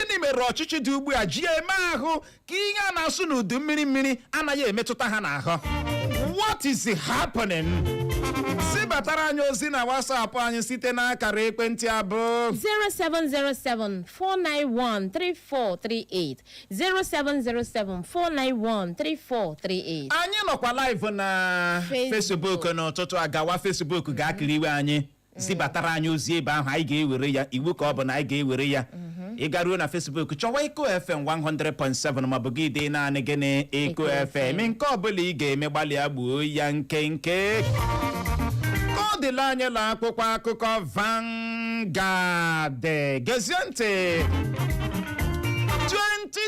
gịnị mere ọchịchị dị ugbu a ji eme ahụ ka ihe a na-asụ n'udu mmiri mmiri anaghị emetụta ha n'ahụ what is happening zibatara anyị ozi na WhatsApp anyị site n'akara ekwentị a bụ 07074913438 07074913438 anyị nọkwa live na Facebook n'ụtụtụ a gawa Facebook gaa kiriwe anyị zibatara anyị ozi ebe ahụ anyị ga-ewere ya iwu ka ọ bụ na anyị ga-ewere ya ị garuo na Facebook chọwa Eko FM 100.7 maọbụ gị dee naanị gịnị Eko FM. nke ọbụla ị ga-eme gbalịa gbuo ya nkenke ka ọ dịla anyị la akwụkwọ akụkọ Vanguard gezie ntị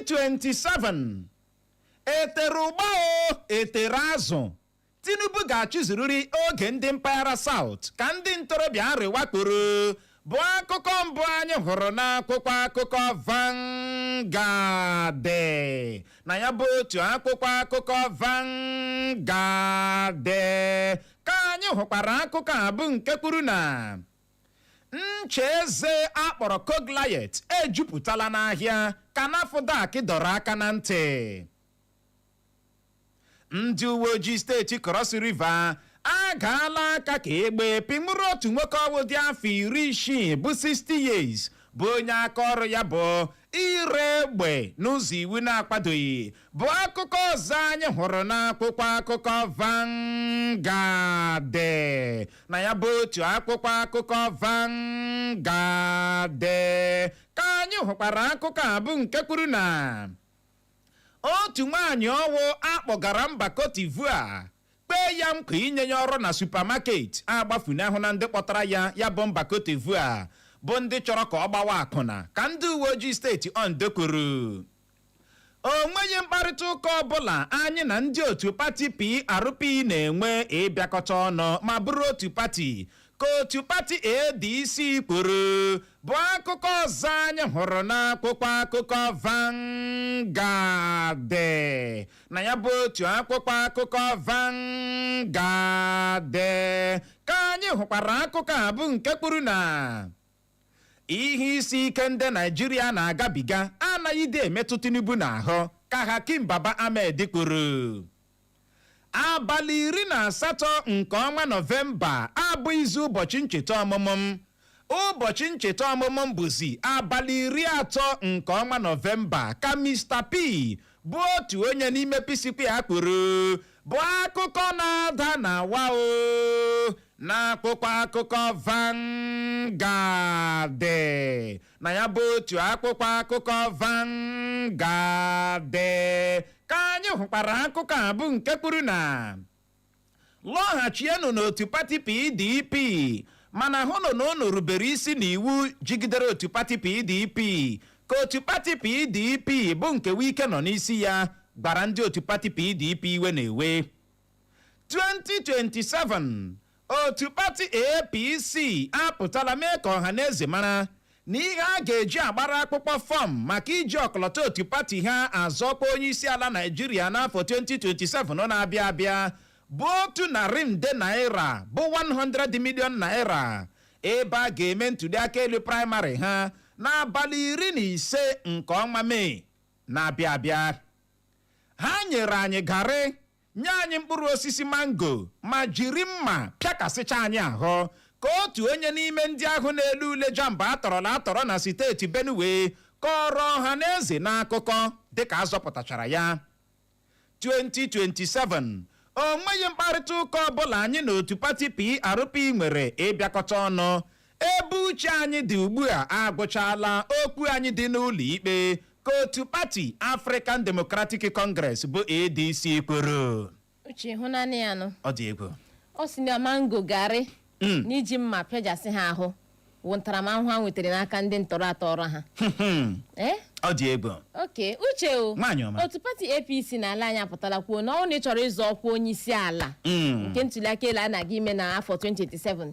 2027 e tere ụgba o e tere azụ Tinubu ga-achịzurịrị oge ndị mpaghara South ka ndị ntorobịa Arewa kwuru bụ akụkọ mbụ anyị hụrụ n'akwụkwọ akụkọ Vanguard na ya bụ otu akwụkwọ akụkọ Vanguard ka anyị hụkwara akụkọ a bụ nke kwuru na ncha eze a kpọrọ Coglaet ejupụtala n'ahịa ka NAFDAC dọrọ aka na ntị ndị uwe ojii steeti Cross River agaala aka ka egbe pịnwụrụ otu nwoke ọwụ dị afọ iri isii bụ 60 years bụ onye aka ọrụ ya bụ ire egbe n'ụzọ iwu na-akwadoghị bụ akụkọ ọzọ anyị hụrụ n'akwụkwọ akụkọ Vanguard na ya bụ otu akwụkwọ akụkọ Vanguard ka anyị hụkwara akụkọ a bụ nke kwuru na Otu nwaanyị ọwụ a kpọgara mba Cote d'Ivoire kwee ya nkwa inye ya ọrụ na supermarket agbafunahụna ndị kpọtara ya ya bụ mba Cote d'Ivoire bụ ndị chọrọ ka ọ gbawa akwụna ka ndị uwe ojii steeti Ondo kwuru. O nweghị mkparịta ụka ọbụla anyị na ndị otu pati PRP na-enwe ịbịakọta ọnụ ma bụrụ otu pati ka otu pati ADC kwuru bụ akụkọ ọzọ anyị hụrụ n'akwụkwọ akụkọ Vanguard na ya bụ otu akwụkwọ akụkọ Vanguard ka anyị hụkwara akụkọ a bụ nke kwuru na ihe isi ike ndị Naịjirịa na-agabiga anaghịdị emetụ Tinubu n'ahụ ka Hakeem Baba-Ahmed kwuru Abalị iri na asatọ nke ọnwa Nọvemba abụghịzi ụbọchị ncheta ọmụmụ m. Ụbọchị ncheta ọmụmụ m bụzi abalị iri atọ nke ọnwa Nọvemba, ka Mister P, bụ otu onye n'ime P-Square kwuru, bụ akụkọ na-ada na wa o n'akwụkwọ akụkọ Vanguard. na ya bụ otu akwụkwọ akụkọ Vanguard ka anyị hụkwara akụkọ a bụ nke kwuru na lọghachienụ n'otu pati PDP mana hụnụ na unu rubere isi n'iwu jigidere otu pati PDP ka otu pati PDP bụ nke Wike nọ n'isi ya gwara ndị otu pati PDP iwe na-ewe 2027 otu pati APC apụtala mee ka ọha na eze mara na ihe a ga-eji agbara akwụkwọ fọm maka iji ọkọlọtọ otu pati ha azọ ọkwa onye isi ala Naịjirịa n'afọ 2027 na-abịa abịa bụ otu narị nde naira bụ 100 million naira ebe a ga-eme ntuliaka elu praịmarị ha n'abalị iri na ise nke ọnwa Mee na-abịa abịa Ha nyere anyị garị, nye anyị mkpụrụ osisi mango ma jiri mma pịakasịcha anyị ahụ, ka otu onye n'ime ndị ahụ na-ele ule JAMB a tọrọla atọrọ na siteeti Benue kọọrọ ọha na eze n'akụkọ dịka a zọpụtachara ya. 2027 o nweghị mkparịta ụka ọbụla anyị na otu pati PRP nwere ịbịakọta ọnụ Ebe uche anyị dị ugbu a agwụchaala okwu anyị dị n'ụlọ ikpe, ka otu pati African Democratic Congress bụ ADC kwuru. uche ị hụnanị ya nụ Ọ dị egwu. ọ sị na mango garị Mm. na iji mma pịajasị ha ahụ wụ ntaramahụhụ ha nwetara n'aka ndị ntọrọ atọrọ ha ee Ọ dị egwu. okay uche o Nwaanyị ọma. otu pati apc n'ala anyị apụtala kwuo na ọ na ị chọrọ ịzọ ọkwa onye isi ala Mm. nke ntuliaka elu a na-aga ime na afọ 2027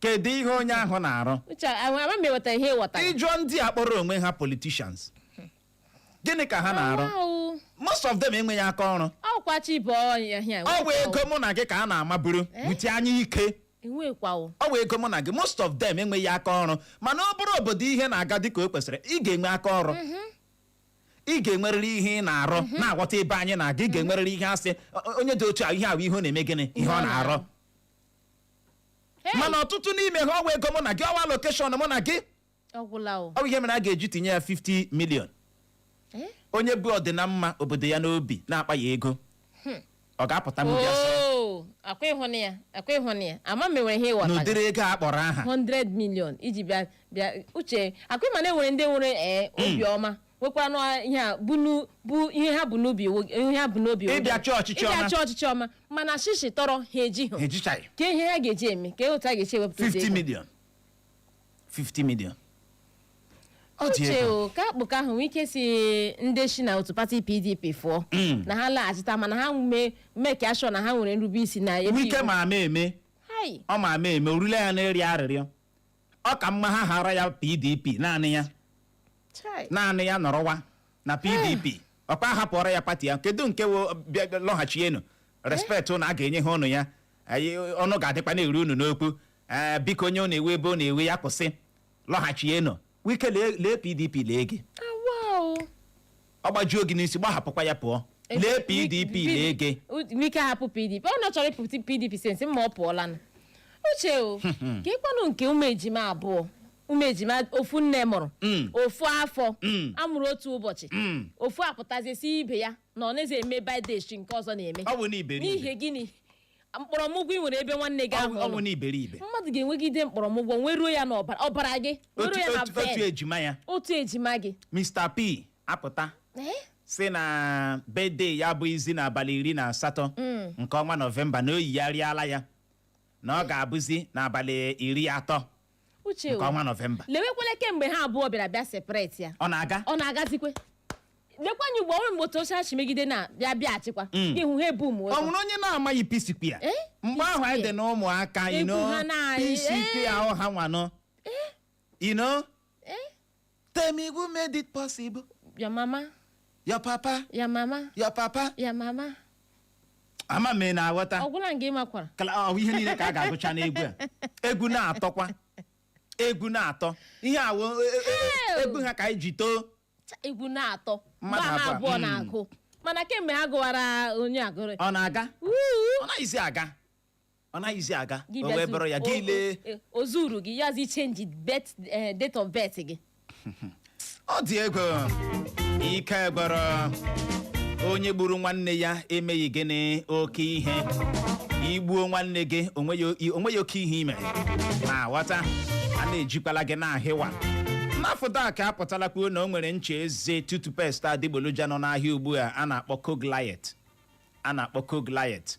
kedu ihe onye ahụ na-arụ uche ama m enwere ihe ị ghọtara ị jụọ ndị a kpọrọ onwe ha politicians gịnị ka ha na-arụ Wow. most of them enweghị aka ọrụ ọkwa chi bụ ọnya hịa ọ bụ ego mụ na gị ka a na-amaburu wute anya ike enwekwawo ọ bụ ego mụ na gị most of them enweghị aka ọrụ mana ọ bụrụ obodo ihe na-aga dịka o kwesịrị ị ga-enwe aka ọrụ ị ga-enwerịrị ihe ị na-arụ na-aghọta ebe anyị na-aga ị ga-enwerịrị ihe a sị "O- onye dị otu a ihe ahụ ihe ọ na-eme gịnị ihe ọ na-arụ Hey! mana ọtụtụ n'ime ha ọwa ego mụ na gị ọwa allocation mụ na gị ọ gwụla o ọ bụ ihe mere a ga-eji tinye ya 50 million Eh? onye bu ọdịnamma obodo ya n'obi na-akpaghị ego ọ ga-apụta m bịa sị Oo, akwa ịhụnụ ya akwa ịhụnụ ya ama m enwere ihe ị ghọta n'ụdịrị ego a kpọrọ aha 100 million iji bịa bịa uche akwa ị ma na enwere ndị nwere ee obiọma nwekwanụ ihe a bụ nu- bụ ihe ha bu n'obi wo- ihe ha bu n'obi wo- Ịbịa chọọ ọchịchị ọma. ịbịa chọọ ọchịchị ọma mana shishi tọrọ ha eji ha ha ejichaghị ka ihe ha ga-eji eme ka otu a ga-eji ewepụta ụdị 50 ego. million 50 million ọ dị uche ego o ka akụkọ ahụ wike sị ndị si na otu pati pdp fụọ na ha laghachita mana ha mee make sure na ha nwere nrube isi na ebe wike iwu. ma ama eme Hai, ọ ma ama eme o rule ya n'ịrịọ arịrịọ ọ ka mma ha hara ya pdp naanị ya naanị ya nọrọwa na pdp ọkwa hapụọrọ ya pati ya kedu nke lọghachienu respect unu a ga-enye ha unu ya ọnụ ga-adịkwa na-eru unu n'okwu biko onye ọ na-ewe ebe ọ na-ewe ya kwụsị lọghachienu wike lee lee pdp lee gị awa o ọ gbajuo gị n'isi gbahapụkwa ya pụọ lee pdp lee gị wike hapụ pdp ọ na chọrọ ịpụ pdp since ma ọ pụọlanụ uche o kekwanụ nke ụmụ ejima abụọ ụmụ ejima ofu nne mụrụ Mm. ofu afọ Mm. a mụrụ otu ụbọchị Mm. ofu apụtazie sị ibe ya na ọ naghịzi eme birthday nke ọzọ na-eme ọ bụ na iberibe n'ihi gịnị mkpọrọmụgwọ i nwere ebe nwanne gị ahụ nọ. ọ wụ na iberibe mmadụ ga-enwegide mkpọrọmụgwọ nweruo ya n'ọbara ọbara gị otu nweruo ya na otu- otu vein ejima ya otu ejima gị mr p apụta Eh? sị na birthday ya abụghịzi n'abalị iri na asatọ nke ọnwa nọvemba na o yigharịala ya na ọ ga-abụzi n'abalị iri atọ uche nke o, ọnwa nọvemba lewekwele kemgbe ha abụọ bịara bịa separate ya ọ na-aga ọ na-agazikwe lekwanye ugbo ọrụ mgbe otu oche achị megide na bịa bịa achịkwa Mm. ihu ha ebu ụmụ ọ nwere onye na-amaghị P-Square Eh? mgbe ahụ anyị dị P-Square. n'ụmụaka Egwu ino ha na-ayị, P-Square eh. ọ ha nwanụ ino Tell me who made it possible. Your mama. Your papa. Your mama. Your papa. Your mama. ama m na-aghọta ọ gwụla nga ị makwara ọ ihe niile ka a ga-agụcha n'egwu a egwu na-atọkwa egwu na-atọ ihe a wụ e, e, e, egwu ha ka anyị ji too egwu na-atọ mgbe ha abụọ hmm. na-agụ mana kemgbe ha gụwara onye agụrụ ọ na-aga ọ naghịzi aga ọ naghịzi aga Gị o wee bịazi- bụrụ ya o- gị lee o- o zuru gị ya zi change bet eh, date of birth gị ọ dị egwu ike gwụrụ onye gburu nwanne ya emeghị gịnị oke ihe i gbuo nwanne gị onweghị onweghị oke ihe i me na-aghọta a na-ejikwala gị na-ahịwa nafdac apụtala kwuo na o nwere ncha eze toothpaste adịgboloja nọ n'ahịa ugbu a a na-akpọ coglaet a na-akpọ coglaet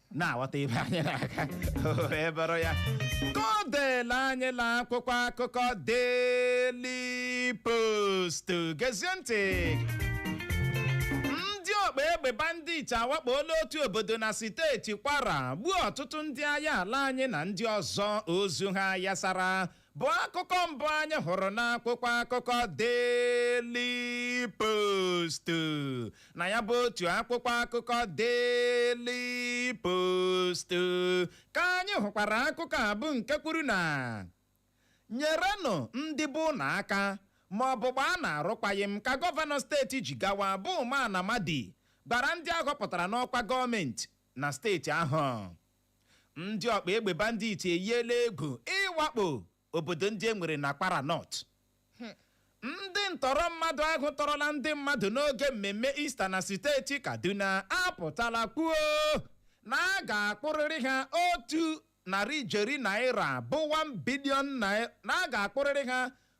na-aghọta ebe anyị na-aga o wee bụrụ ya ka o deela anyị na akwụkwọ akụkọ Daily Post gezie ntị ndị ọgba egbe bandit awakpoola otu obodo na steeti kwara gbuo ọtụtụ ndị agha ala anyị na ndị ọzọ ozu ha yasara bụ akụkọ mbụ anyị hụrụ n'akwụkwọ akụkọ Daily Post na ya bụ otu akwụkwọ akụkọ Daily Post ka anyị hụkwara akụkọ a bụ nke kwuru na nyerenụ ndị be unu aka ma ọ bụ gbaanụ arụkwaghịm ka gọvanọ steeti Jigawa bụ Umar Namadi gwara ndị a họpụtara n'ọkwa gọọmenti na steeti ahụ ndị ọkpa egbe bandit eyiela egwu ịwakpo obodo ndị e nwere na Kwara North ndị ntọrọ mmadụ ahụ tọrọla ndị mmadụ n'oge mmemme Ista na steeti Kaduna apụtala kwuo na a ga-akpụrịrị ha otu narị ijeri naira bụ 1 bilion naira na a ga-akpụrịrị ha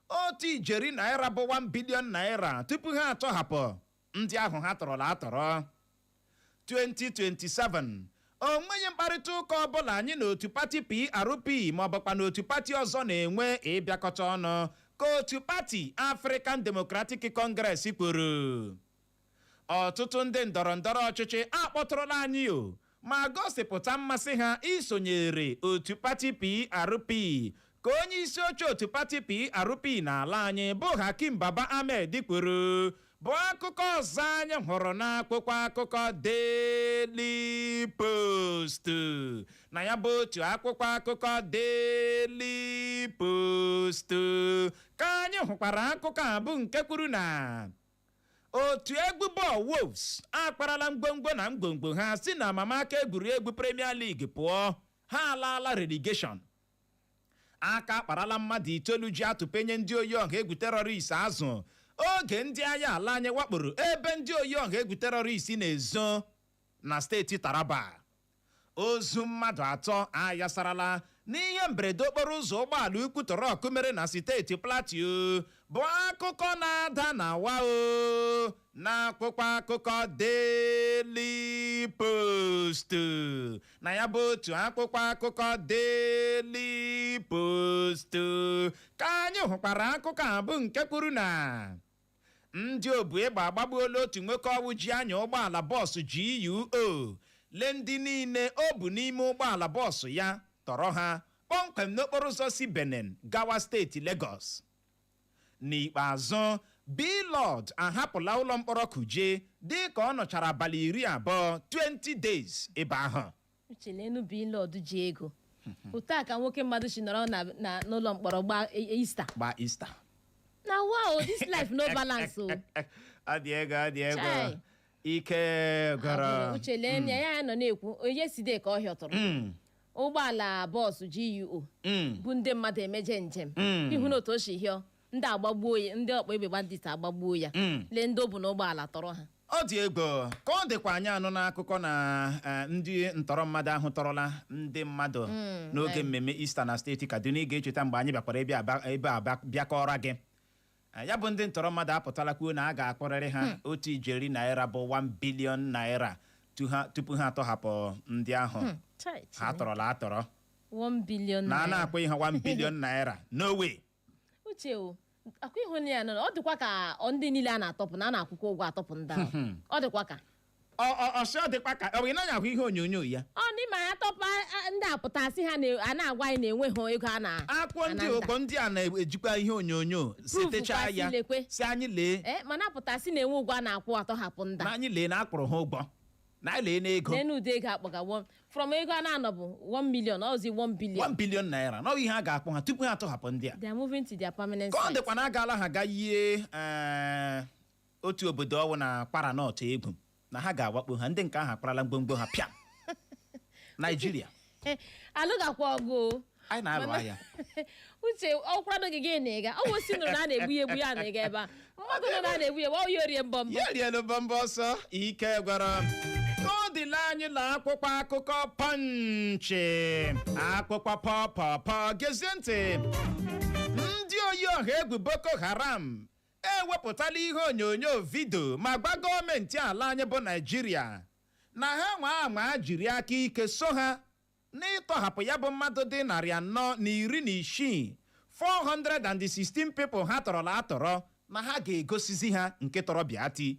otu ijeri naira bụ 1 bilion naira tupu ha atọhapụ ndị ahụ ha tọrọla atọrọ 2027 o nweghị mkparịta ụka ọbụla anyị na otu pati PRP maọbụkwa na otu pati ọzọ na-enwe ịbịakọta ọnụ ka otu pati African Democratic Congress kwuru ọtụtụ ndị ndọrọ ndọrọ ọchịchị akpọtụrụla anyị o ma gosipụta mmasị ha isonyere otu pati PRP ka onye isi oche otu pati PRP n'ala anyị bụ Hakeem Baba Ahmed kwuru bụ akụkọ ọzọ anyị hụrụ n'akwụkwọ akụkọ Daily Post na ya bụ otu akwụkwọ akụkọ Daily Post ka anyị hụkwara akụkọ a bụ nke kwuru na otu egwu bọọlụ Wolves akwarala ngwongwo na ngwongwo ha si na amamaka egwuregwu Premier League pụọ ha alaala relegation aka akparala mmadụ itoolu ji atụpenye ndị oyi ọha egwu terọrist azụ oge ndị agha ala anyị wakporo ebe ndị oyi ọha egwu terọrist na-ezo na steeti Taraba ozu mmadụ atọ ayasarala n'ihe mberede okporo ụzọ ụgbọala ukwu trọk mere na steeti Plateau bụ akụkọ na-ada na wa o n'akwụkwọ akụkọ Daily Post na ya bụ otu akwụkwọ akụkọ Daily Post ka anyị hụkwara akụkọ a bụ nke kwuru na Ndị obu egbe agbagbuola otu nwoke ọwụ ji anya ụgbọala bọọsụ GUO lee ndị niile o bu n'ime ụgbọala bọọsụ ya tọrọ ha kpọmkwem n'okporoụzọ si Benin gawa steeti Legọs. N'ikpeazụ, Blord ahapụla ụlọmkpọrọ Kuje dịka ọ nọchara abalị iri abụọ, 20 days, ebe ahụ. Uche leenụ Blord ji ego otu a ka nwoke mmadụ si nọrọ na- na- n'ụlọ mkpọrọ gbaa e- e- ista gba ista na wa o this life no balance o ọ dị egwu ọ dị egwu Chai. ike Abụrụ, gwụrụ uche lee na ya nọ na-ekwu onye side ka ọ hịọtụrụ Mm, ụgbọala bọọsụ GUO mm, bụ ndị mmadụ emeje njem mm. ị hụna otu o si hịọ ndị agbagbuo ya ndị ọkpa egbe bandit agbagbuo ya Mm. lee ndị o bu n'ụgbọala tọrọ ha ọ dị egwu ka ọ dịkwa anyị anụna akụkọ na eh, ndị ntọrọ mmadụ ahụ tọrọla ndị mmadụ n'oge eh. mmemme Easter na steeti Kaduna ị ga-echeta mgbe anyị bịakwara ebe a ba- ebe a ba- bịa kọọrọ gị Eh, ya bụ ndị ntọrọ mmadụ apụtala kwuo na a ga-akwụrịrị ha otu ijeri naira bụ 1 bilion naira tu ha- tupu ha atọhapụ ndị ahụ Chai, ha Chineke. tọrọla atọrọ 1 billion na a naira. na-akwụghị ha 1 bilion naira no way uche o akwa ịhụ na ya nọ ọ dịkwa ka ọ ndị niile a na-atọpụ na a na-akwụkwa ụgwọ atọpụ ndị ahụ ọ dịkwa ka ọ ọ ọ sị ọ dịkwa ka ọ bụ ị naghị ahụ ihe onyonyo ya ọ ndị ma ya tọpụ a- a- ndị apụta sị ha na- a na-agwa anyị na enweghị ego a na-akwụkwa ndị ananda. ụkọ ndị a na-ejikwa ihe onyonyo setechaa kwasị ya lekwe. si anyị lee Eh, mana apụta sị na-enwe ụgwọ a na-akwụ atọhapụ ndị na a. anyị lee na a kwụrụ ha ụgwọ na anyị lee n'ego lenu ụdị ego akpọga one- from ego a na-anọbụ 1 million ọzi 1 1 billion billion naira na ọ bụ ihe a ga-akwụ ha tupu ha atọhapụ ndị a they are moving to their permanent ka ọ site. dịkwa na agaala ha ga yie eh, otu obodo ọwụ na Kwara North egwu na ha ga-awakpo ha ndị nke ahụ akwarala ngwongwo ha pịa naijiria alụgakwa ọgụ o. anyị na-alụ Mana- agha uche ọ kwado gị gị na ịga ọ bụ si nụrụ na a na-egbu ya egbu ya na ịga ebe a mmadụ nụrụ na a na-egbu ya egbu ọ ya orie mbọmbọ ya rienu mbọmbọ ọsọ ike gwụrụ m. ka ọ dịla anyị na akwụkwọ akụkọ Punch akwụkwọ pọpọpọ gezie ntị ndị oyi ọha egwu boko haram ewepụtala ihe onyonyo vidio ma gwa gọọmenti ala anyị bụ naijiria na ha nwaa anwaa jiri aka ike so ha n'ịtọhapụ ya bụ mmadụ dị narị anọ na iri na isii, 416 people ha tọrọla atọrọ, na ha ga-egosizi ha nke tọrọ bịati,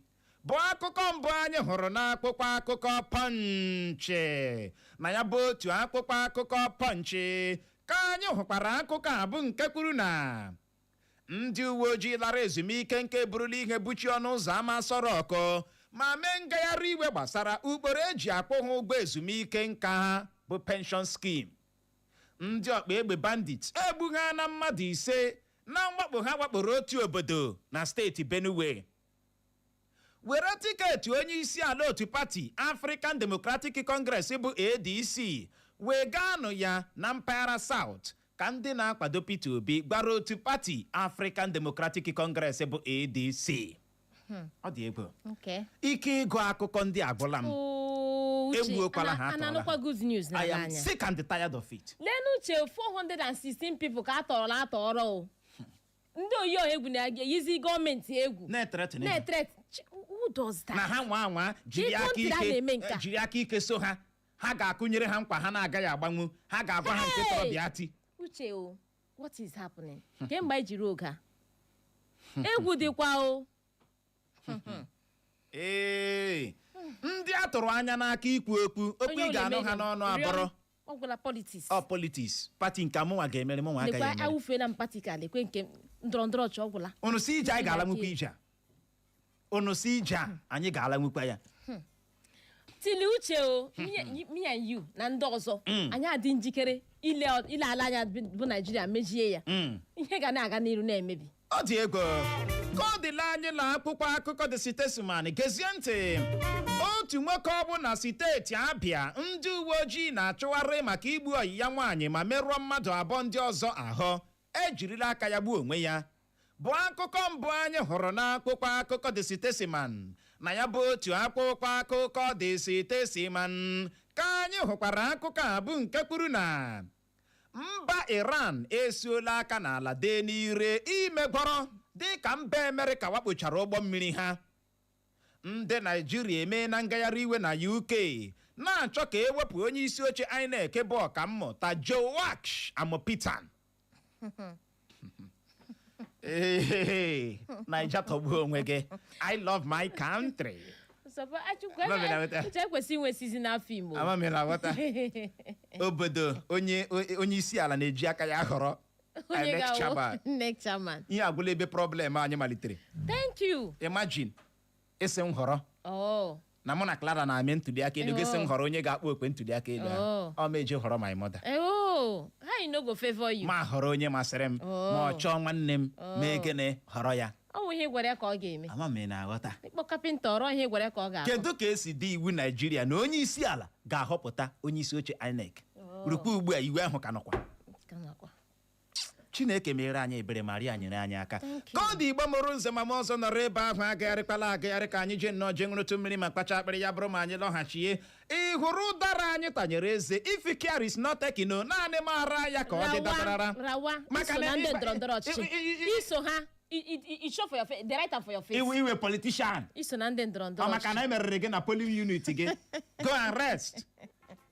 bụ akụkọ mbụ anyị hụrụ n'akwụkwọ akụkọ Punch. Na ya bụ otu akwụkwọ akụkọ Punch ka anyị hụkwara akụkọ a bụ nke kwuru na ndị uwe ojii lara ezumike nka eburula ihe buchie ọnụ ụzọ ama Aso Rock ma mee ngagharị iwe gbasara ụkpụrụ e ji akwụ ha ụgwọ ezumike nka ha bụ pension scheme ndị ọkpa egbe bandit egbugha na mmadụ ise na mwakpo ha wakporo otu obodo na steeti benue were tiketi onye isi ala otu pati African Democratic Congress bụ ADC wegaanụ ya na mpaghara South ka ndị na-akwado Peter Obi gwara otu pati African Democratic Congress bụ ADC ọ dị egwu Okay. ike ịgụ akụkọ ndị a agwụla m Oo, Uche, Egbuokwala ana- ha, ana atọrọla anụkwa ha. good news na I am anya. sick and tired of it Lenu uche 416 people ka a tọrọla atọrọ o. ndị oyi ọha egwu na-eyizi gọọmenti egwu na-eteretịrị ha. na-etret Ch- who does that? na ha nwa anwa jiri Ka aka kọntịrị a ike na-eme nke a. jiri aka ike so ha ha ga-akụnyere ha nkwa ha na-agaghị agbanwu ha ga-agwa ha nke tọrọ Hey! bịa ti uche o what is happening kemgbe anyị jiri oge a egwu dịkwa o ee ndị a tụrụ anya n'aka ikwu okwu okwu Onye ị ọ ga-anụ na-eme ha ya? n'ọnụ Rịọ m. abụrụ ọ gwụla politiks ọ politiks pati nke mụnwa ga-emere mụnwa agaghị lekwa emere awụfeela m pati ka lekwe nke ndọrọ ndọrọ ọchị ọ gwụla unu si ije anyị ga-alanwukwa ije a unu si ije a anyị ga-alanwukwa ya tili uche o me and- me and you na ndị ọzọ anyị adị njikere ile ile ala anya bụ naijiria mejie ya Mm. ihe ga na-aga n'iru na-emebi ọ dị egwu ka ọ dịla anyị na akwụkwọ akụkọ The Statesman gezie ntị otu nwoke ọ bụ na steeti abịa ndị uwe ojii na-achụgharị maka igbu ọyị ya nwaanyị ma merụọ mmadụ abụọ ndị ọzọ ahụ ejirila aka ya gbuo onwe ya bụ akụkọ mbụ anyị hụrụ n'akwụkwọ akụkọ The Statesman na ya bụ otu akwụkwọ akụkọ The Statesman ka anyị hụkwara akụkọ a bụ nke kwuru na Mba Iran esiola aka n'ala dee n'ire imegwọrọ dịka mba Amerịka wakpochara ụgbọ mmiri ha. Ndị Naịjirịa emeela ngagharị iwe na UK na-achọ ka e wepụ onye isi oche INEC bụ ọkammụta Joash Amupitan. Hey, Naija tọgbuo onwe gị. I love my country. Sọpọ Achukwu Ama m ị na-aghọta. uche ekwesị inwe seasonal film. Ama m ị na-aghọta. Obodo onye onye isi ala na-eji aka ya ahọrọ Onye INEC ga-awụ chairman. INEC chairman. Ihe agwụla ebe problem anyị malitere. Thank you. Imagine ị sị m họrọ Oh. na mụ na Clara na-eme ntuli aka elu gị sị m họrọ onye ga-akpọ okwe ntuli aka elu ahụ Oh. ọ ma eji họrọ my mother Eh, Oh. How you no go favor you? ma họrọ onye masịrị m Oh. ma ọ chọọ nwanne m mee gịnị họrọ ya Ọ bụ ihe ị gwara ya ka ọ ga-eme. ama m ị na-aghọta Ị kpọọ kapịnta ọrụ ihe ị gwara ya ka ọ ga-arụ. kedu ka e si dee iwu naijiria na onye isi ala ga-ahọpụta onye isi oche inec rukwa ugbu a iwu ahụ ka nọkwa Ka nọkwa. chineke mere anyị ebere Maria nyere anyị aka ka ọ dị igbo mụrụ nze ma mụọ ọzọ nọrọ ebe ahụ agagharịkwala agagharị ka anyị jee nnọọ jee ṅụrụtụ mmiri ma kpacha akpịrị ya bụrụ ma anyị lọghachie ị hụrụ ụdara anyị tanyere eze if care is not taken no naanị mara ya ka ọ dị dabarara rawa rawa Maka iso na na ndị ịba- ndọrọ ndọrọ ọchịchị i- i- i- i- iso ha i- i- i- i show for your face the right hand for your face iwe iwe politician iso na ndị ndọrọ ndọrọ ọ maka ọchịchị na e meriri gị na polling unit gị go and rest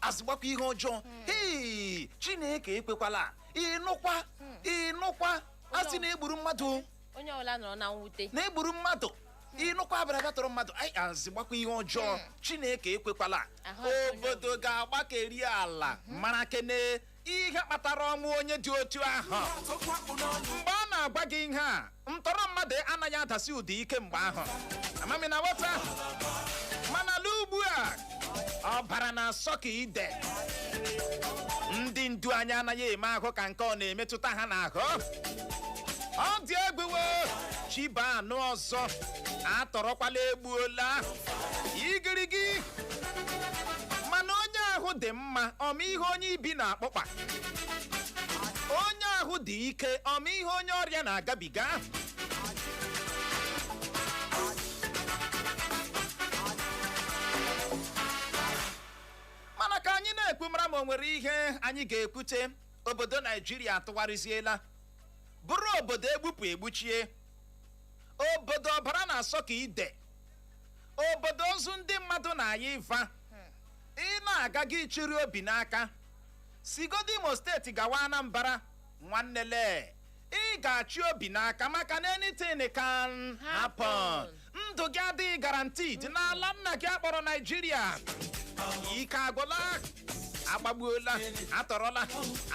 azịgbakwa ihe ọjọọ hei chineke ekwekwala ịnụkwa ịnụkwa a sị na e gburu mmadụ o, onye ọbụla nọrọ na mwute na e gburu mmadụ ịnụkwa a bara bịa tọrọ mmadụ anyị azịgbakwa ihe ọjọọ chineke ekwekwala Ahụ adịghị onye obodo ga-agbakeri ala mara kene ihe kpatara ọnwụ onye dị otu ahụ mgbe a na-agwa gị ihe a ntọrọ mmadụ anaghị adasi ụda ike mgbe ahụ ama m ị na-aghọta mana lee ugbu a ọbara na-asọ ka ide ndị ndu anyị anaghị eme ahụ ka nke ọ na-emetụta ha n'ahụ ọ dị egwu chi bọọ a nụ ọzọ atọrọkwala egbuola igirigi mana onye ahụ dị mma ọ ma ihe onye ibi na-akpọkpa onye ahụ dị ike ọ ma ihe onye ọrịa na-agabiga mana ka anyị na-ekwu mara ma o nwere ihe anyị ga-ekwute obodo naijiria atụgharịziela bụrụ obodo egbupụ egbuchie obodo ọbara na-asọ ka ide obodo ozu ndị mmadụ na-aya ịva ị na-aga aga ị chịrị obi n'aka sigodu imo steeti gawa anambra nwanne lee ị ga-achị obi n'aka maka na anything can happen ndụ gị adịghị guaranteed n'ala nna gị a kpọrọ naijiria ike agwụla agbagbuola atọrọla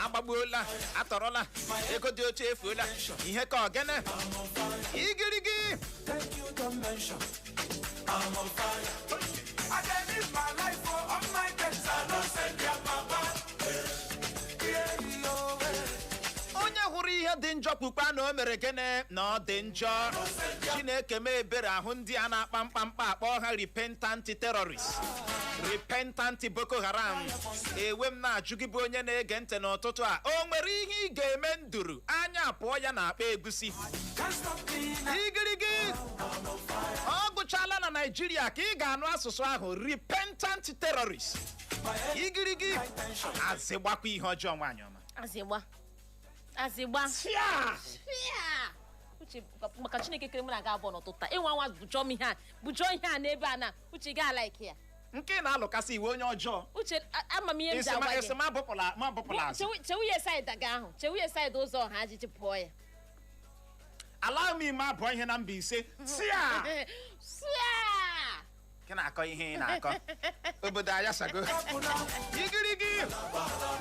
agbagbuola atọrọla ego dị oche efuola ihe ka ọ gịnị igirigi Thank you, convention. I'm on fire. I can live my life for all my debts. I don't send their papa. Yeah, no way. onye hụrụ ihe dị njọ kwukwaa na o mere gịnị na ọ dị njọ chineke mee ebere a hụ ndị a na-akpa mkpamkpa a kpọọ ha repentant terrorist repentant boko haram ewe m na-ajụ gị bụ onye na-ege ntị n'ụtụtụ a o nwere ihe ị ga-eme nduru anya apụọ ya n'akpa egusi igirigi ọ gwụchala na naijiria ka ị ga-anụ asụsụ ahụ repentant terrorist igirigi azị gbakwa ihe ọjọọ nwaanyị ọma azịgba azịgba Tia! Pịa! uche maka chineke kere mụ na aga abụọ n'ụtụtụ taa ịnwa nwa bụjọọ m ihe a bụjọọ ihe a n'ebe a na uche ga like ya nke na-alụkasị iwe onye ọjọọ uche a- ama m ihe m ji esi ma- agwa esi gị ma bụpụla ma bụpụla azụ Chewu- chewu ya saịdị aga ahụ chewu ya saịdị ụzọ ọha ajiji pụọ ya ala m ime abụọ ihe na mbaise tia Sịa! gị na-akọ ihe ị na-akọ obodo ayasago igirigi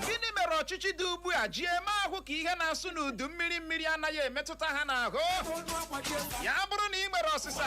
gịnị mere ọchịchị dị ugbu a ji eme ahụ ka ihe na-asụ n'udu mmiri mmiri anaghị emetụta ha n'ahụ ya bụrụ na ị nwere ọsịsa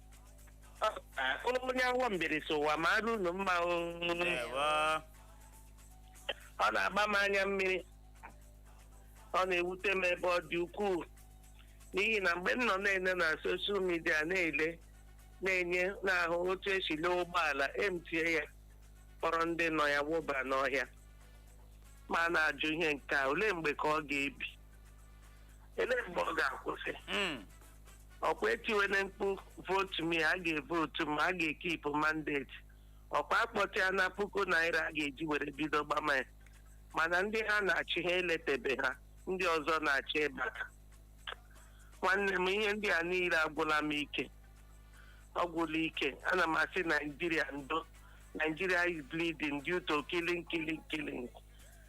onye awọ mbieri sị ụwa mara unu mma o ndewo ọ na-agba m anya mmiri ọ na-ewute m ebe ọ dị ukwuu n'ihi na mgbe m nọ na-ele na soshal midia na-ele na-enye na-ahụ otu esi lee ụgbọala emtie ya kpọrọ ndị nọ ya wụba n'ọhịa ma a na-ajụ ihe nke a olee mgbe ka ọ ga-ebi olee mgbe ọ ga-akwụsị Mm. ọkwa etiwele mkpu votu m a ga-evotu m a ga-ekipụ mandeti ọkwa akpọta ya na puku naira a ga-eji were bido gbama ya mana ndị ha na-achị ha eletebe ha ndị ọzọ na-achọ ịbata nwanne m ihe ndị a niile agwụla m ike ọ gwụla ike ana m asị naijiria ndo nigeria is bleeding due to killing killing killing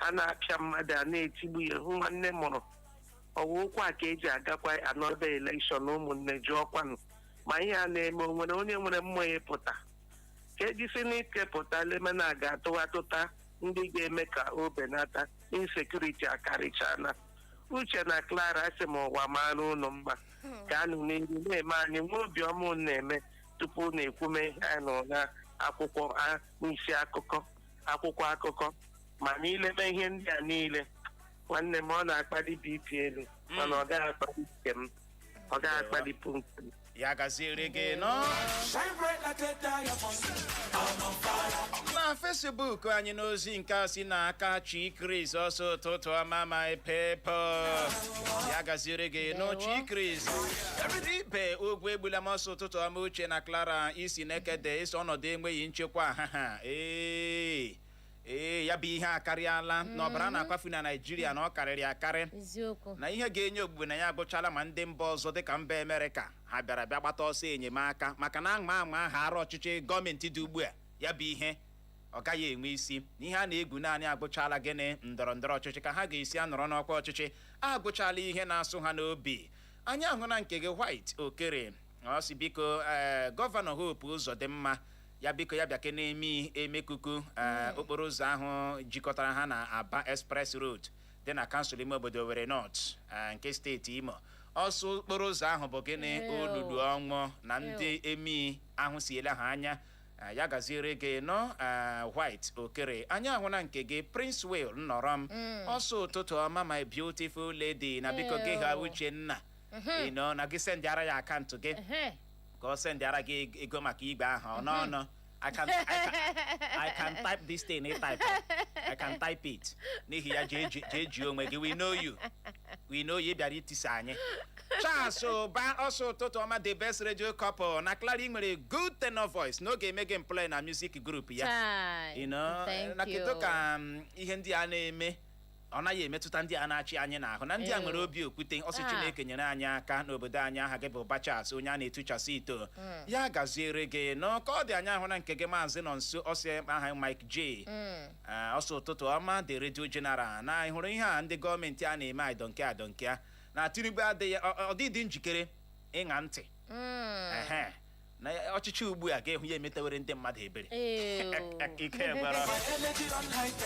a na-apịa mmadụ a na-etigbu ya hụ nwanne m ọ wụrụ ọ wụ ụkwụ a ka eji agakwa another election ụmụnne jụọkwanụ ma ihe a na-eme o nwere onye nwere mmụọ ịpụta ka ejisi n'ike pụta lemena a ga-atụ atụta ndị ga-eme ka o benata insecurity akarịchana uche na clara asị m ụwa mara ụnụ mma ka anụ n'ihu na-eme anyị nwa obiọma unu na-eme tupu na ekwume ihe anyị nụrụ na akwụkwọ a- n'isi akụkọ akwụkwọ akụkọ ma n'ileme ihe ndị a niile nwanne m ọ na-akpali bp elu mana ọ gaghị akpali nke m ọ gaghị akpalipụ nke m ya gaziere gị nnọọ Shine bright like a diamond. I'm on fire. na facebook anyị n'ozi nke a si n'aka chi kris ọsọ ụtụtụ ọma my people ya gaziere gị nnọọ chi chris ibe ogwuegbulam ọ sị ụtụtụ ọma uche na clara i si nekede ị sị ọnọdụ enweghị nchekwa ha ha ee ee ya bụ ihe akarịala na ọbara na-akwafu na naijiria na ọ karịrị akarị eziokwu na ihe ga-enye ogbugbe na ya agụchala ma ndị mba ọzọ dịka mba amerịka ha bịara bịa gbata ọsọ enyemaka maka na anwa anwa a haara ọchịchị gọọmenti dị ugbu a ya bụ ihe ọ gaghị enwe isi ihe a na-egwu naanị agụchala gịnị ndọrọ ndọrọ ọchịchị ka ha ga-esi anọrọ n'ọkwa ọchịchị agụchala ihe na-asụ ha n'obi anyị ahụna nke gị white okere ọ sị biko ee gọvanọ hope ụzọdịmma ya biko ya bịakene eme emekuku ee okporo ụzọ ahụ jikọtara ha na aba express road dị na kansụl ime obodo owerri north nke steeti imo ọ sị okporo ụzọ ahụ bụ gịnị Ew. olulu ọnwụ na ndị emii ahụsiela ha anya Ah, ya gaziere gị nnọọ ah, white okere anyị ahụna nke gị princewill nnorom ọ sị ụtụtụ ọma my beautiful lady na biko gị ha Ew. uche na Ehe. ịnọ na gị sendịara ya akantụ gị Ehe. ka ọ sendịara gị eg- ego maka igwe ahụ ọ nọ ọnụ I can, I, can, I can type this thing ị type I can type it n'ihi ya jee ji- jee jie onwe gị we know you we know you ị bịara itisa anyị Charles Ụba ọ sị ụtụtụ ọma the best radio couple na Clara i nwere good tenor voice na ọ ga-eme gị employ na music group ya Chai. you know Thank na kedu you. ka um, ihe ndị a na-eme ọ naghị emetụta ndị a na-achị anyị n'ahụ na ndị a nwere obi okwute ọ sị ah. Chineke nyere anyị aka n'obodo anyị aha gị bụ Bachas onye a na-etuchasị ito hmm. ya gaziere gị nnọọ ka ọ dị anyị ahụna nke gị maazị Nọnso ọsị aha Mike J hmm. ah, ọ sị ụtụtụ ọma the radio general na ị hụrụ ihe a ndị gọọmenti a na-eme I don't care I don't care na Tinubu adịghị ọ dịghị njikere ịṅa ntị hmm. na ya- ọchịchị ugbu a ga-ehụ ya emetewere ndị mmadụ ebere Ee, o. ike gwara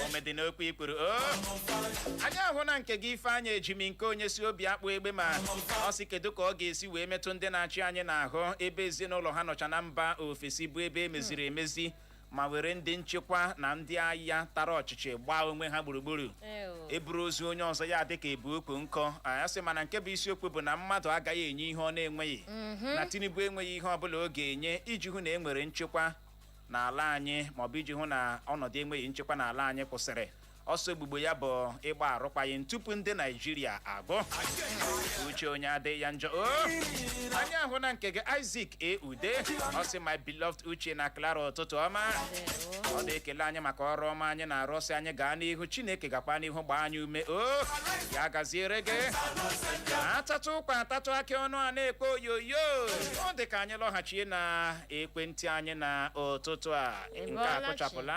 omedị n'okwu ikpuru o anyị ahụna nke gị Ifeanyị Ejimnkeonye si Obiakpụ Egbema ọ sị kedu ka ọ ga-esi wee metụ ndị na-achị anyị n'ahụ ebe ezinụlọ ha nọcha na mba ofesi bụ ebe e meziri emezi ma were ndị nchekwa na ndị agha tara ọchịchị gbaa onwe ha gburugburu Ew. e buru ozu onye ọzọ ya dịka e bu ukwu nkụ ya sị mana nke bụ isiokwu bụ na mmadụ agaghị enye ihe ọ na-enweghị na Tinubu enweghị ihe ọbụla ọ ga-enye iji hụ na e nwere nchekwa n'ala anyị maọbụ iji hụ na ọnọdụ enweghị nchekwa n'ala anyị kwụsịrị ọ sị ogbugbo ya bụ ịgba arụkwaghịm tupu ndị Naijiria agụ uche onye adịghị ya njọ o anyị ahụna nke gị Isaac Ude ọ sị my beloved Uche na Clara ụtụtụ ọma ọ na-ekele anyị maka ọrụ ọma anyị na-arụ ọ sị anyị gaa n'ihu Chineke gakwa n'ihu gbaa anyị ume o ya gaziere gị a tatụ ụkwa a tatụ akị ọnụ a na-ekpe oyoyo ọ dị ka anyị lọghachie na ekwentị anyị na ụtụtụ a nke a Ịbọọla chi. kụchapụla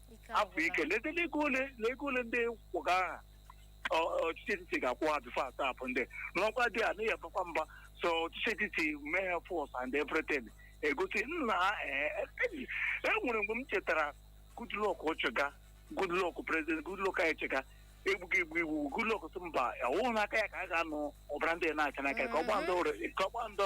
Ike afọ agwụla. ike leta n'ego ole na ego ole ndị kwụga aha ọ- ọchịchị etiti ga-akwụ ha before a tọpụ ndị n'ọkwa dị a n'ihi abakwa mba so ọchịchị etiti mee ha force and everything egosi nna ha ee, e e nwere mgbe m chetara Goodluck ọchịga Goodluck president Goodluck anyị chịga egbughị egbu iwu Goodluck sị mba ọwụghị n'aka ya ka a ga-anụ ọbara ndị na-acha n'aka ya ka ọ gbaa ndị ọrụ- ka ọ gbaa ndị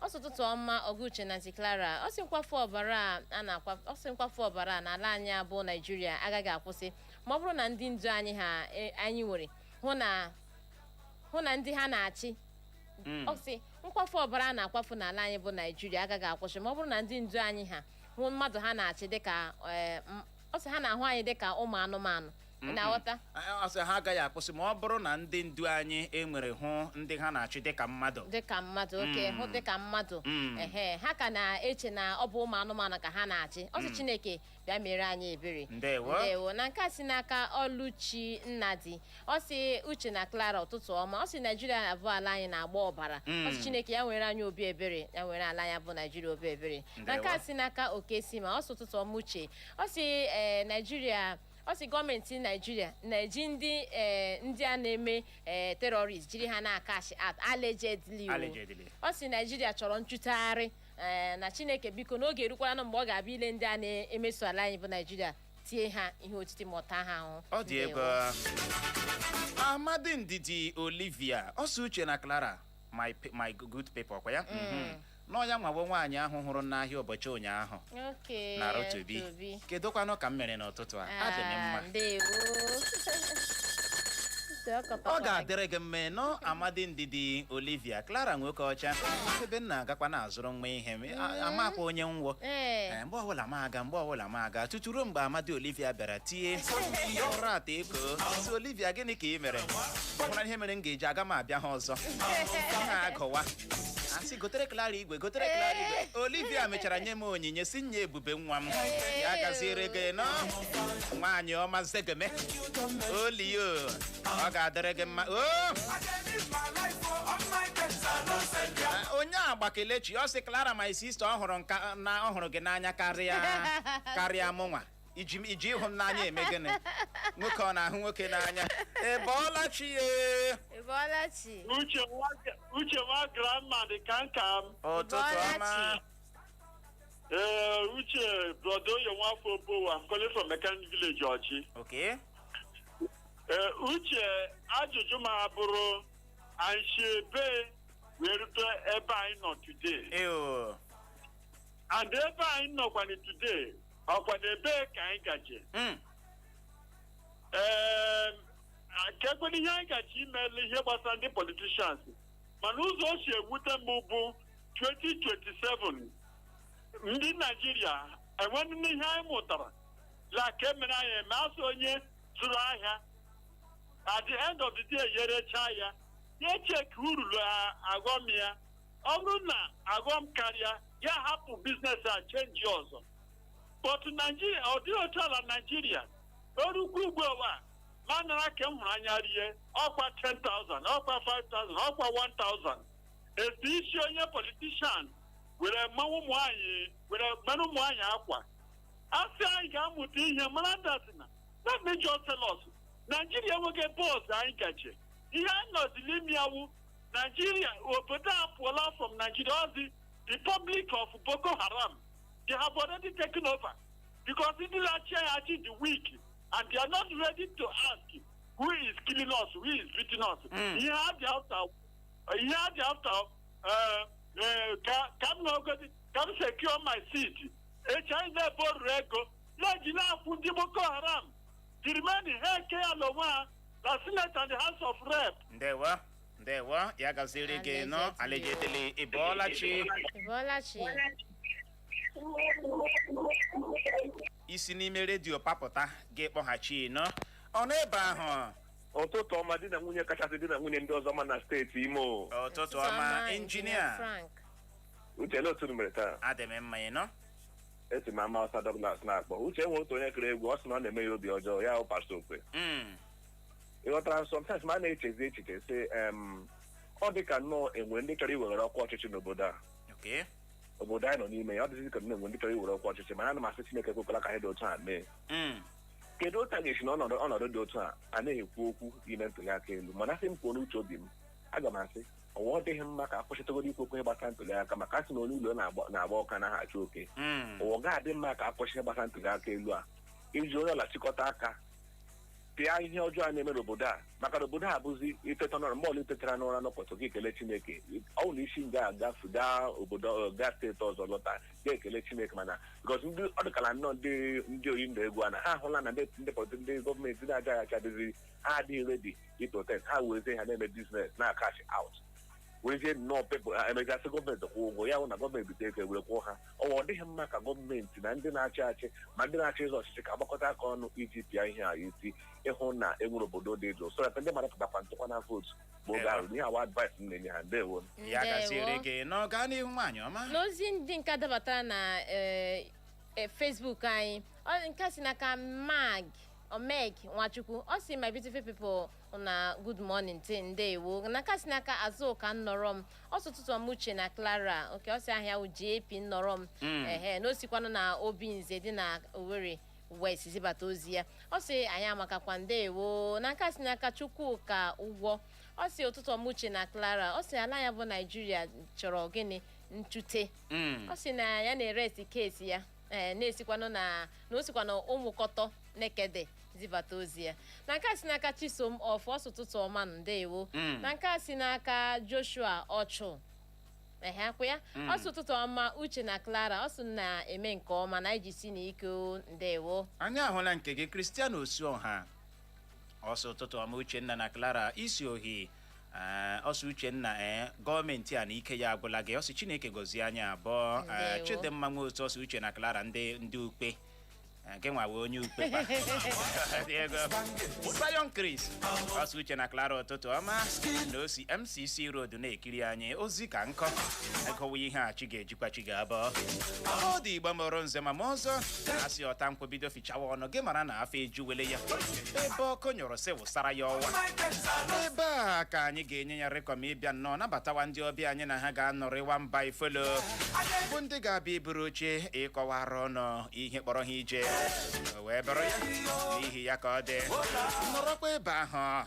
ọ sị ụtụtụ ọma oga Uche na aunty Clara ọ sị nkwafu ọbara a a na-akwa ọ sị nkwafu ọbara a n'ala anyị a bụ Naijiria agaghị akwụsị ma ọ bụrụ na ndị ndu anyị ha e- anyị nwere hụ na hụ na ndị ha na-achị Mm. ọ sị nkwafu ọbara a na-akwafu n'ala anyị bụ Naijiria agaghị akwụsị ma ọ bụrụ na ndị ndu anyị ha hụ mmadụ ha na-achị dịka eh, m- ọ sị ha na-ahụ anyị dịka ụmụ anụmanụ ị na-aghọta ọ sị ha agaghị akwụsị ma ọ bụrụ na ndị ndu anyị enwere hụ ndị ha na-achị dịka mmadụ dịka mmadụ oke hụ dịka mmadụ Mm. ehe ha ka na-eche na ọ bụ ụmụ anụmanụ ka ha na-achị ọ sị chineke bịa mere anyị ebere Ndewo. ndewo na nke a si n'aka oluchi nnadi ọ sị uche na clara ụtụtụ ọma ọ sị naijiria bụ ala anyị na-agba ọbara ọ sị chineke ya nwere anyị obi ebere ya nwere ala anyị bụ naijiria obi ebere na nke a Ndewo. si n'aka okesima ọ sị ụtụtụ ọma uche ọ sị ee naijiria ọ sị gọọmenti naijiria na-eji ndị eh, ndị a na-eme eh, terrorist jiri ha na-acash out allegedly o. Allegedly. ọ sị naijiria chọrọ nchụtagharị eh, na chineke biko n'oge erukwalanụ mgbe ọ ga-abịa ile ndị a na-emeso ala anyị bụ naijiria tie ha ihe otiti ma taa ha ahụhụ ọ dị egwu. amadi ndidi olivia ọ sị uche na clara my, pe- my good people ọkwa ya Mhm. na ọ yanwa wụ nwaanyị ahụ hụrụ m n'ahịa ụbọchị ụnyaahụ Okay, na rotobi Tobi. kedụkwanụ ka m mere n'ụtụtụ a adị m mma Ah, ndewo. Ntị ọ kọtọkwara ọ ga-adịrị gị mma ị nụ amadi ndidi olivia clara nwoke ọcha ebe m na-agakwa na-azụrụ nwa ihe m a- amakwa onye m wụ o Ee. Ee, mgbe ọbụla m aga mgbe ọbụla m aga tutu ruo mgbe amadi olivia bịara tie ụra ata eko si olivia gịnị ka ị mere ọ bụla ihe mere m ga-eji aga m abịa ha ọzọ ha agụwa a sị gotere Clara igwe gotere Clara igwe Olivia mechara nye m onyinye si nye ebube nwa m ya gaziere gị ị nụ nwaanyị ọma zegeme olio ọ ga-adịrị gị mma o Ah, onyeagba kelechi ọ sị Clara my sister ọ hụrụ nka na ọ hụrụ gị n'anya karịa karịa mụnwa i ji i ji ịhụ m n'anya eme gịnị nwoke ọ na-ahụ nwoke n'anya ị bọọla chi ya Ị bọọla chi. uche nwa uche nwa grandma dị ka nke m ụtụtụ Bọọla ọma chi. ee uche brọda oyo nwafọ obowo I'm calling from mechanic village orji okay ee uche ajụjụ m a bụrụ anyị si ebe wee rute ebe anyị nọ today eo and ebe anyị nọkwanụ today ọ kwanụ ebee ka anyị gaje Mm. Ee, kekwanụ ihe anyị gaje imeli ihe gbasara ndị politicians mana ụzọ o si ewute m bụ 2027 ndị naijiria enweghị ihe anyị mụtarala ka emere anyị eme a sị onye zụrụ ahịa at the end of the day ya erechaa ya ya echeki uru la ọghọm ya ọ bụrụ na aghọm karịa ya hapụ business a change ọzọ but Nigeria ọ dịghị otu ala Nigeria o rukwa ugbu a ma anara nke m hụrụ anya rie ọkwa 10,000 ọkwa 5,000 ọkwa 1,000 etu isi onye politician were mmanwụ ụmụ anyị were mere ụmụ anyị akwa a sị anyị ga-amụta ihe mara datina na mejọ selọs Nigeria enweghị bọọsụ anyị gaje ihe anyị nọzi n'ime ya awụ Nigeria obodo a apụọla from Nigeria ọ wụzi the Republic of Boko Haram they have already taken over because ndị na-achị anyị achị dị weak and they are not ready to ask who is killing us who is beating us Mm. ihe ha dị after ihe ha dị after eh, eh, ka ka m nọgodi ka m secure my seat echi anyị na-aborrow ego e ji na-akwụ ndị Boko Haram the remaining ha ekee ya n'onwe ha na Senate and the House of Rep. ndewo ndewo ya gaziere gị nnọọ Alhaji etili ị bọọla chi Ị bọọla chi. i si n'ime redio papụta gị akpọghachi nọmba ahụ ụtụtụ ọma di na nwunye kachasị di na nwunye ndị ọzọ mma na steeti Imo ụtụtụ ọma injinia Frank. Uche ndaa otu i mere taa adị m mma nnọọ esi m Ama Awụsa Douglas na-akpọ Uche enwe otu onye kụrụ egwu ọ sị na ọ na-eme ya obi ọjọọ ya akpasa okwe Mm. ị ghọtara sometimes ma a na-echezi echiche sị em, ọ dị ka nnọọ enwe ndị chọrọ iwere ọkwa ọchịchị n'obodo a Okay. obodo anyị nọ n'ime ya ọ dịzi ka nnọọ enwe ndị chọrọ iwere ọkwa ọchịchị mana ana m asị Chineke ekwekwala ka ihe dị otu a mee Mm. kedu otu a ga-esi n'ọnọdụ ọnọdụ dị otu a a na-ekwu okwu ime ntuli aka elu mana a sị m kwuo n'uche obi m aga m asị ọwa ọ dịghị mma ka a kwụsịtụgodi ikwu okwu ihe gbasara ntuli aka maka a sị na onye ụlọ na-agba na-agba ọkụ anaghị achụ oke Mm. ọwa ga-adị mma ka a kwụsị ihe gbasara ntuli aka elu a iji onye ọbụla chịkọta aka pịa ihe ọjọọ a na-eme n'obodo a maka na obodo a bụzi i teta n'ụra mgbe ọbụla i tetara n'ụra n'ụbọchị gị ekele Chineke ọ bụ na i si nga a gafee gaa obodo ọ, gaa steeti ọzọ lọta gị ekele Chineke mana because ndị ọ dịkala nnọọ ndị ndị oyi ndụ egwu a na ha ahụla na ndị ndị pọlịtị ndị gọọmenti na-achị achị adịzi ha adịghị ready iprotect ha werezie ha na-eme business na-acash out werezie nnọọ people ha emegasị gọọmenti kwụọ ụgwọ ya hụ na gọọmenti bite ego were kwụọ ha ọwa ọ dịghị mma ka gọọmenti na ndị na-achị achị ma ndị na-achọ ịzọ ọchịchị ka a gbakọta aka ọnụ iji pịa ihe a isi ịhụ na e nwere obodo dị jụụ so that ndị mmadụ pụtakwanụ tụkwanụ vootu ma oge ahụ ihe a wụ advice m na-enye ha ndewo ya gaziere Ndewo. gị n'ịga n'ihu nwaanyị ọma n'ozi ndị nke dabatara na eh, eh, Facebook anyị ọ- nke a si n'aka mag Omeg Nwachukwu ọ sị my beautiful people una good morning ti ndewo na nke si n'aka Azụka Nnọrọm ọ sị ụtụtụ ọma Uche na Clara oke ọ sị aha ya wụ JP Nnọrọm ehe na o sikwanụ na Obinze dị na Owerri West zibata ozi ya ọ sị anyị amakakwa ndewo na nke si n'aka Chukwuka ụgwọ ọ sị ụtụtụ ọma Uche na Clara ọ sị ala ya bụ Naijiria chọrọ gịnị ntute Mm. ọ sị na ya na-erest case ya ee na o sikwanụ na na o sikwa na ụmụọkọtọ nekede zibata ozi ya na nke a si n'aka chisom ọfụ ọ sị ụtụtụ ọma ndewo Mm. na nke a si n'aka joshua ọchụ ehe akwụ ya Mm. ọ sị ụtụtụ ọma uche na clara ọ sị unu na-eme nke ọma na jisienụ ike o, ndewo anyị ahụla nke gị christian osuọha ọ sị ụtụtụ ọma uchenna na clara isi ohi Ee, ọ sị uchenna ee gọọmenti a na ike ya agwụla gị ọ sị chineke gọzie anyị abụọ Ee, Ndewo. chidimma nwe otu ọ sị uche na clara ndị ndị ukpe Ee, gị nwa wụ onye ukpe kwa. Ndewo. Zion Chris ọ sị uche na clara ụtụtụ ọma na o si mcc road na-ekiri anyị ozi ka nkọ a gụwa ihe a chi ga-eji kwa chi ga-abọ ndị igbo mara nze mara ọzọ asị ọta nkwụ bido fichawa ọnụ gị mara na afọ ejuwele ya ebe ọkụ nyụrụ sị wụsara ya ọwa ebe a ka anyị ga-enye ya rekọm ịbịa nnọọ nabatawa ndị ọbịa anyị na ha ga-anọrịwa mba ifelo bụ ndị ga-abịa iburu oche ịkọwara unu ihe kpọrọ ha ije o wee bụrụ ya n'ihi ya ka ọ dị nọrọkwa ebe ahụ